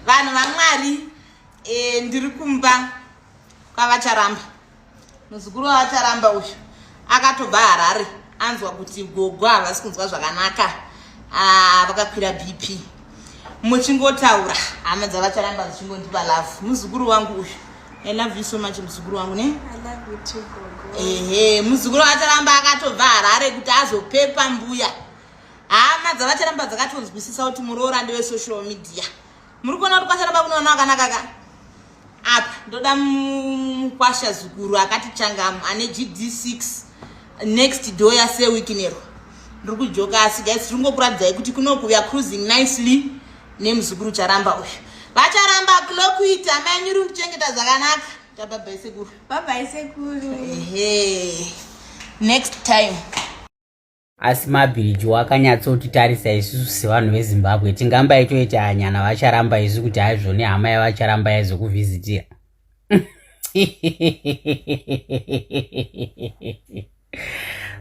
vanhu vamwari e, ndiri kumba kwavacharamba muzukuru wavacharamba uyu akatobva harare anzwa kuti gogo havasi kunzwa zvakanaka ah, vakakwira bp muchingotaura hama dzavacharamba dzichingondipa love muzukuru wangu uyu i love you so much muzukuru wangu ne ehe muzukuru wacharamba akatobva harare kuti azopepa mbuya hama dzavacharamba dzakatonzwisisa kuti muroora ndewe social media muri kuona kuti kwacharamba kunoona akanaka ka apa ndoda mukwasha zukuru akati changamu ane gd6 next door yase wikinero ndiri kujoka asi guys tiri ngokuratidzai kuti kunoku weare cruising nicely nemuzukuru charamba uyu vacharamba kulokuita manyuri kuchengeta zvakanaka tababaisekuru babaisekuru ehe next time asi mabhiriji wakanyatsotitarisa isusu sevanhu vezimbabwe tingamba itoita anyana vacharamba isu kuti haizvo nehama yavacharamba yaizokuvhizitira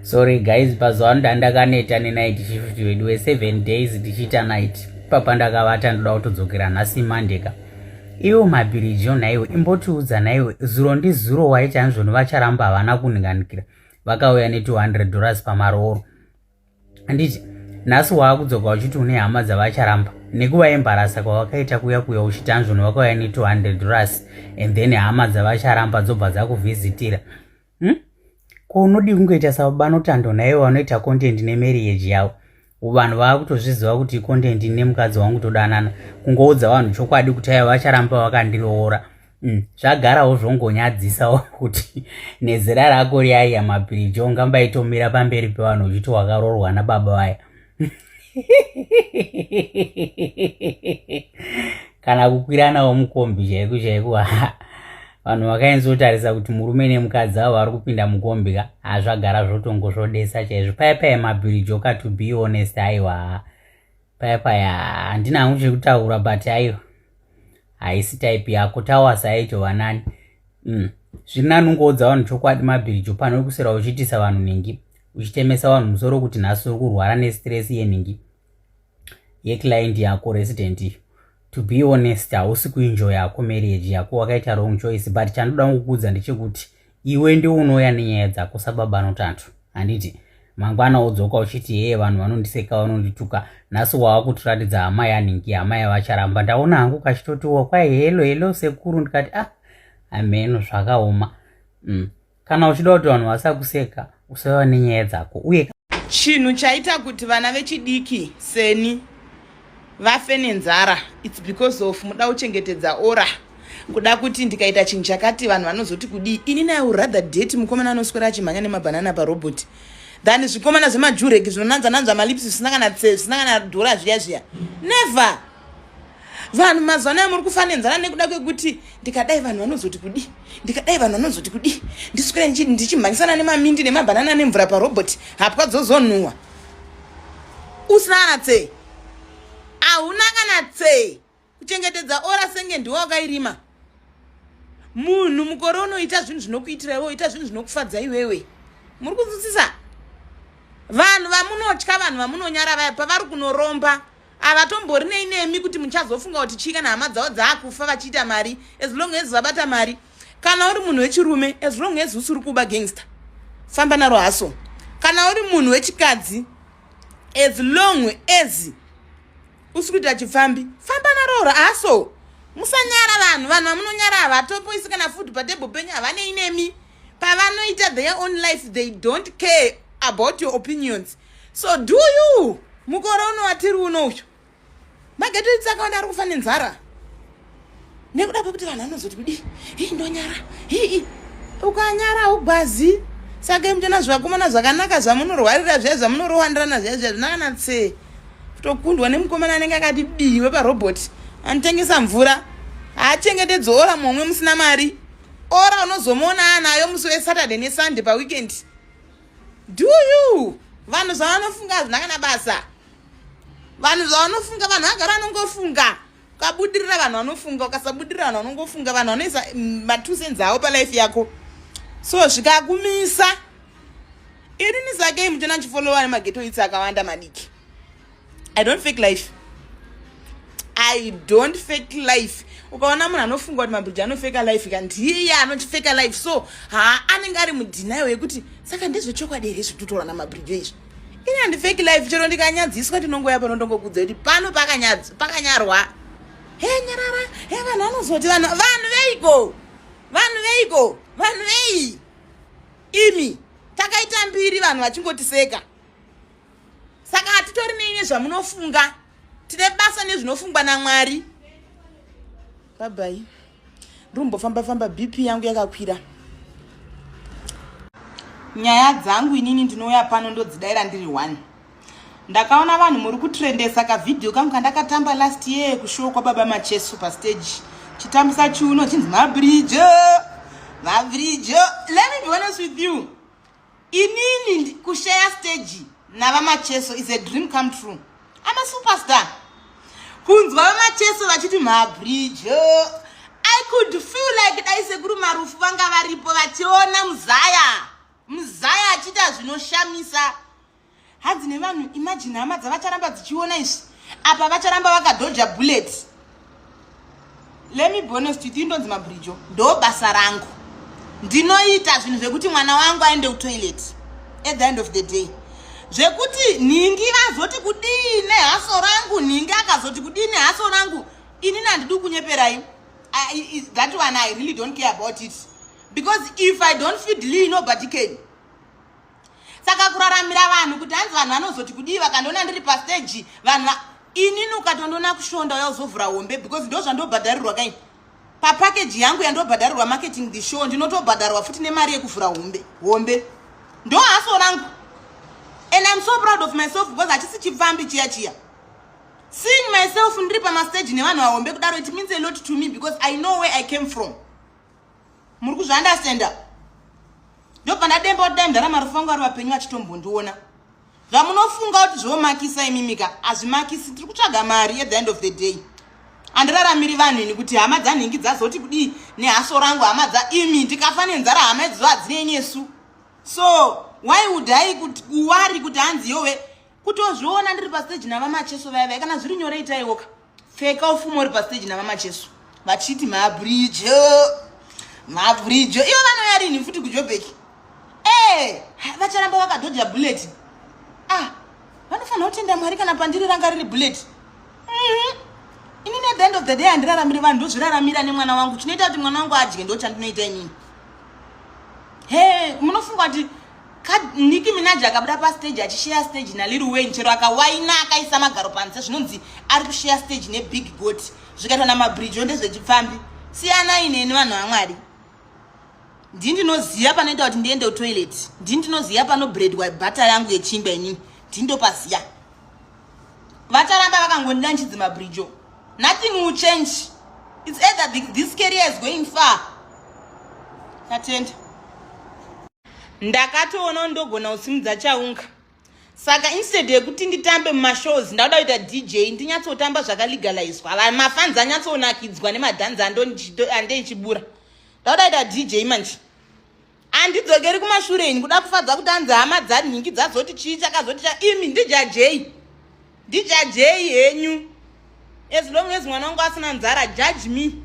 sorry guys pazuva ano dandakaneta nenight shift vedu weseven days ndichiita night papa ndakavata ndoda kutodzokera nhasi monday ka iwo mabhiriji onhaiwo imbotiudza naiwo zuro ndizuro waiti anzvoni vacharamba havana kunhinganikira vakauya ne 200 dollars pamarooro handiti nhasi waakudzoka uchiti une hama dzavacharamba nekuva embarasa kwawakaita kuya kuya uchiti anzvoni vakauya ne 200 dollars and then hama dzavacharamba dzobva dzakuvhizitira hmm? ko unodii kungoita sababa notando naivo vanoita content nemariage yavo vanhu vava kutozviziva kuti content ine mukadzi wangu todanana kungoudza vanhu chokwadi kuti aiva vacharamba vakandiroora mm, zvagarawo zvongonyadzisawo kuti nezera rako riaiya mapirijo ungambaitomira pamberi pevanhu uchiti wakarorwa nababa vaya kana kukwiranawo mukombi chaiko chaiko vanhu vakainzotarisa kuti murume nemukadzi avo vari kupinda mukombi ka hazvagara zvotongo zvodesa chaizvo paya paya mabhirijoka to be honest aiwa paya paya handina hangu chekutaura but aiwa haisi type yako tawasa aito vanani mm. zviri nani ungoudza vanhu chokwadi mabhirijo pano wekusera uchiitisa vanhu nhingi uchitemesa vanhu musoro kuti nhasi uri kurwara nestress yenhingi yeclient yako resident iyo to be honest hausi kuenjoy yako marriage yako wakaita wrong choice but chandoda kukuudza ndechekuti iwe ndiwo unouya nenyaya dzako sababa anotantu handiti mangwana wodzoka uchiti hee vanhu vanondiseka vanondituka nhasi wava kutiratidza amai aningi amai vacharamba ndaona hangu kachitotiwa kwai helo helo sekuru ndikati ah ameno zvakaoma mm. kana uchida kuti vanhu vasakuseka usava nenyaya dzako uye chinhu chaita kuti vana vechidiki seni vafe nenzara its because of muda kuchengetedza ora kuda kuti ndikaita chinhu chakati vanhu vanozoti kudii ini naye urather date mukomana anoswera achimhanya nemabhanana paroboti than zvikomana zvemajureki zvinonanzananza malips zvisina kana zvisina kana dhora zviya zviya never vanhu mazuva anaya muri kufanenzana nekuda kwekuti ndikadai vanhu vanozoti kudii ndikadai vanhu vanozoti kudii ndiswere ndichimhanyisana nemamindi nemabhanana nemvura paroboti hapwa dzozonhuwa usina kana tsee hauna kana tsee kuchengetedza ora senge ndiwe wakairima munhu mukore unoita zvinhu zvinokuitira iwe oita zvinhu zvinokufadza iwewe muri kunzwisisa vanhu vamunotya vanhu vamunonyara vaya pavari kunoromba havatombori nei nemi kuti muchazofunga kuti chii kana hama dzavo dzaakufa vachiita mari as long as vabata mari kana uri munhu wechirume as long as usiri kuba gangster famba naro haso kana uri munhu wechikadzi as long as usikuita chipfambi famba naroora aso musanyara vanhu vanhu vamunonyara havatopoisi kana food patable penyu havanei nemi pavanoita their own life they don't care about your opinions so do you mukore uno watiri uno uyu magetoitsi akawanda ari kufa nenzara nekuda kwekuti vanhu vanozoti kudii hii ndonyara hii ukanyara haugwazi saka mtona zvivakomana zvakanaka zvamunorwarira zviya zvamunorowandirana zviya zviya zvinakana tsee kutokundwa nemukomana anenge akati dii weparobot anotengesa mvura haachengetedzi ora momwe musina mari ora unozomuona anayo musi wesaturday nesunday paweekend do you vanhu zvavanofunga hazvina kana basa vanhu zvavanofunga vanhu vagara vanongofunga ukabudirira vanhu vanofunga ukasabudirira vanhu vanongofunga vanhu vanoisa mm, matusenz avo palife yako so zvikakumisa irini sakei muchona chifollowa nemageto itsi akawanda madiki i don't fake life i don't fake life ukaona munhu anofunga kuti mabridge anofeka life ka ndiye anotifeka life so haa anenge ari mudhinayo yekuti saka ndezvechokwadi here zvitotorana mabridge izvi ini handifeki life chero ndikanyadziswa ndinongoya pano ndongokudza kuti pano pakanyarwa he nyarara he vanhu vanozoti vanhu vanhu veiko vanhu veiko vanhu vei imi takaita mbiri vanhu vachingotiseka saka hatitori neinye zvamunofunga tine basa nezvinofungwa namwari Babai. Rumbofamba famba BP yangu yakakwira. Nyaya dzangu inini ndinouya pano ndodzidaira ndiri one. Ndakaona vanhu muri kutrendesa ka video kangu kandakatamba last year kushow kwa baba Macheso pa stage. Chitambisa chiuno chinzi Mabrijo. Mabrijo. Let me be honest with you. inini kushare stage navamacheso is a dream come true i'm a superstar kunzwa vamacheso vachiti mabridge oh, i could feel like dai sekuru marufu vanga varipo vachiona muzaya muzaya achiita zvinoshamisa hadzi nevanhu imagine hama dzavacharamba dzichiona izvi apa vacharamba vakadhoja bullet lemi bonest with you ndonzi mabridjo ndo basa rangu ndinoita zvinhu zvekuti mwana wangu aende kutoilet at the end of the day zvekuti nhingi vazoti kudii nehaso rangu nhingi akazoti kudii nehaso rangu inini handidi kunyeperai that one i really don't care about it because if i don't feed lee nobody can saka kuraramira vanhu kuti hanzi vanhu vanozoti kudii vakandiona ndiri pasteji vanhu inini ukatondiona kushonda uya uzovhura hombe because ndo zvandobhadharirwa kai papakeji yangu yandobhadharirwa marketing the show ndinotobhadharwa futi nemari yekuvhura hombe hombe ndo haso rangu and im so proud of myself because hachisi chipfambi chiya chiya seeing myself ndiri pamasteji nevanhu vahombe kudaro it means a lot to me because i know where i came from muri kuzviandastanda ndopanademba kuti dai mdara marufangu ari vapenyu vachitombondiona zvamunofunga kuti zvomakisa imimika hazvimakisi tiri kutsvaga mari at the end of the day andiraramiri vanhu ini kuti hama dzanhingi dzazoti kudii nehaso rangu hama dza imi ndikafa nenzara hama idzo hadzinenesu so why would i kuti kuwari kuti hanzi yowe kutozviona ndiri pastage navamacheso vaya vaya kana zviri nyore itaiwoka pfeka ufumo uri pastage navamacheso vachiti mabridge mabridge iyo vanoyarini futi kujobeki ee vacharamba vakadhodha bullet ah vanofanira kutenda mwari kana pandiri ranga riri bullet mhm. ini ne the end of the day handiraramiri vanhu ndozviraramira nemwana wangu chinoita kuti mwana wangu adye ndo chandinoita inini he munofunga kuti Nicki Minaj akabuda pastage achisheya stage naLil Wayne chero akawaina akaisa magaro panze zvinonzi ari kusheya stage nebig got zvikaitwa namabridge ndezvechipfambi siyanai neni vanhu vamwari ndii ndinoziva panoita kuti ndiende kutoilet ndii ndinoziva panobredwa bhata yangu yechingwa inini ndii ndopaziva vacharamba vakangondida nchidzi mabridge nothing will change its either this career is going far tatenda ndakatoona ndogona kusimudza chaunga saka instead yekuti nditambe mumashows ndakuda kuita dj ndinyatsotamba zvakalegalizwa vanhu mafanzi anyatsonakidzwa nemadhanzi ande ndichibura ndakuda kuita dj manje andidzokeri kumashure ini kuda kufadza kuti anzi hama dzanhingi dzazoti chii chakazoti cha imi ndijajei ndijajei henyu as long as mwana wangu asina nzara judge me